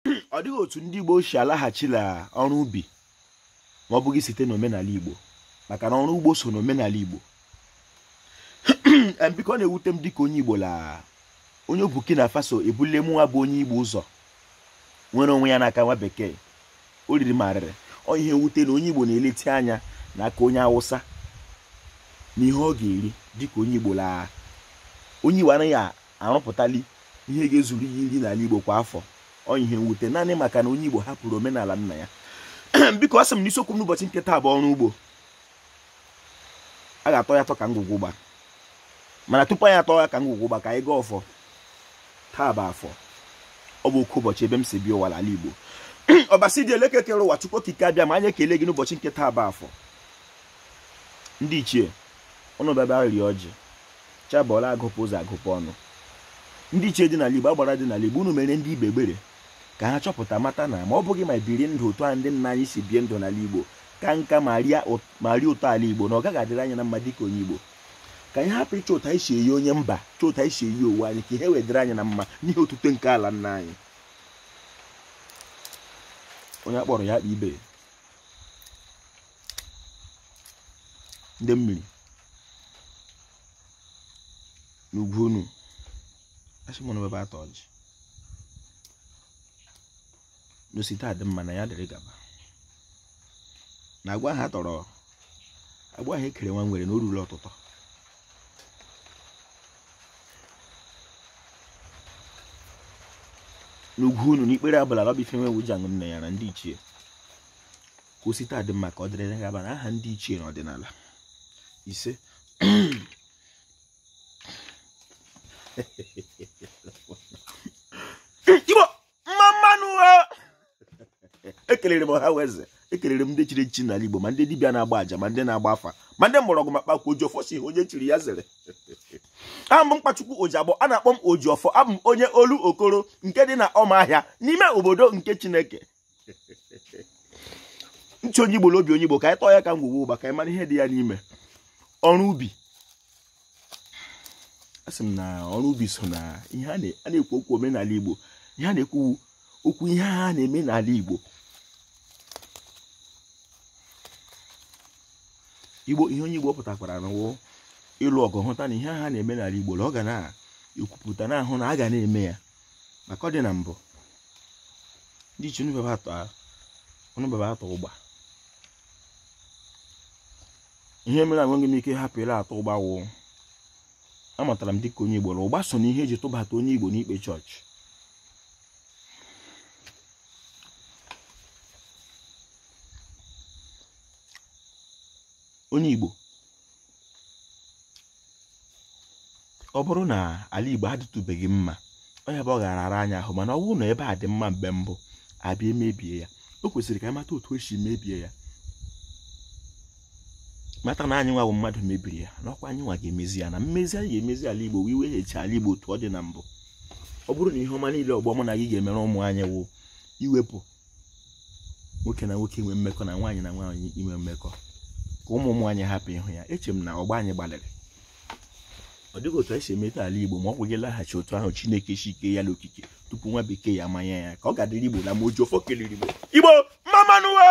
ọ dịghị otu ndị Igbo si alaghachila ọrụ ubi ma ọ bụghị site n'omenala Igbo maka na ọrụ ugbo so n'omenala Igbo biko ọ na-ewute m dịka onye Igbo la onye Burkina Faso ebule mụnwa bụ onye Igbo ụzọ nwere onwe ya n'aka nwa bekee o riri m arịrị ọ ihe mwute na onye Igbo na-eleti anya n'aka onye Awụsa n'ihe ọ ga-eri dịka onye Igbo la onye Igbo anaghị arụpụtali ihe ga-ezuru ya iri n'ala Igbo kwa afọ ọ ihe mwute naanị maka na onye Igbo hapụrụ omenala nna ya biko asị m na isiokwu m n'ụbọchị nke taa bụ ọrụ ugbo a ga-atọ ya atọ ka ngwugwu ụgba mana tupu anyị atọ ya ka ngwugwu ụgba ka anyị gọọ ọfọ taa bụ afọ ọ bụ oke ụbọchị ebe m si bịa ụwa n'ala Igbo ọbasi dị elu ke kere ụwa Chukwu Okike Abịama anyị ekele gị n'ụbọchị nke taa bụ afọ ndị ichie unu bịaba rie ọjị chi abọọla agụpụ ụzọ agụpụ ọnụ ndị ichie dị n'ala Igbo agbara dị n'ala Igbo unu mere ndị Igbo ebere ka ha chọpụta mata na ma ọ bụghị ma biri ndụ otu a ndị nna anyị si bie ndụ n'ala Igbo kaa nka ma rie ụtọ ala Igbo na ọ gaghị adịrị anyị na mma dịka onye Igbo ka anyị hapụ ịchọ otu a anyị si eyi onye mba chọọ otu a anyị si eyi onwe anyị ka ihe wee dịrị anyị na mma n'ihe otuto nke ala nna anyị onye akpọrọ ya akpa ibe ndị mmiri n'ugwu unu asị m na ebe atọ ọjị na o site adị mma na ya dịrị gaba na agwa ha tọrọ agwa ha ekere ụwa nwere na o ruru ọtụtụ n'ugwu unu n'ikpere abala lọbife nwe wuji aṅụ nne ya na ndị ichie ka o site adị mma ka ọ dịrị na gaba n'aha ndị ichie na ọdịnala ise igbo mma mma nụ ekelere m ọha na eze ekelere m ndị chiri echichi n'ala igbo ma ndị dibịa na-agba aja ma ndị na-agba afa ma ndị mgbọrọgwụ na mkpa akwụkwọ oji ọfọ si ihe onye chiri ya zere aha m bụ mkpachukwu ojiagbọ a na-akpọ m oji ọfọ abụ m onye olokoro nke dị na ọma ahịa n'ime obodo nke chineke nchị onye igbo n'obi onye igbo ka anyị tọọ ya ka ngwugwu ụgba ka anyị mara ihe dị ya n'ime ọrụ ubi asị m na ọrụ ubi so na ihe a na-ekwu okwu omenala igbo ihe a na-ekwu okwu ihe ha na-eme n'ala igbo igbo ihe onye igbo pụtakwara n'ụwa ịlụ ọgụ hụta na ihe ha na-eme n'ala igbo na ọ ga na-ekwupụta na-ahụ na a ga na-eme ya maka ọ dị na mbụ ndị ichie unu bebe atọ ụgba ihe mere enweghị m ike hapụ ile atọ ụgba wụ amatara m dịka onye igbo na ụgba so na ihe eji tụbata onye igbo n'ikpe chọọchị onye igbo ọ bụrụ na ala Igbo adịtụbeghị mma ọ ya bụ ọ gara ara anyị ahụ mana ọ bụrụ na ebe a dị mma mgbe mbụ abịa emebie ya o kwesịrị ka anyị mata otu esi mebie ya mata na anyị nwa wụ mmadụ mebiri ya n'ọkwa anyị nwa ga-emezi ya na mmezi anyị ga-emezi ala Igbo wee weghachi ala Igbo otu ọ dị na mbụ ọ bụrụ na ihe ọma niile ọgbọ mụ na gị ga-emere ụmụ anyị wụ iwepụ nwoke na nwoke inwe mmekọ na nwaanyị na nwaanyị inwe mmekọ ka ụmụ ụmụ anyị hapụ ịhụ ya eche m na ọgbọ anyị gbalịrị ọ dịghị otu anyị si emeta ala igbo ma ọ bụghị ịlaghachi otu ahụ chineke si kee ya n'okike tupu nwa bekee ya manya ya ka ọ ga-adịrị igbo na mma oji ọfọ kelere igbo igbo mma mma nụ o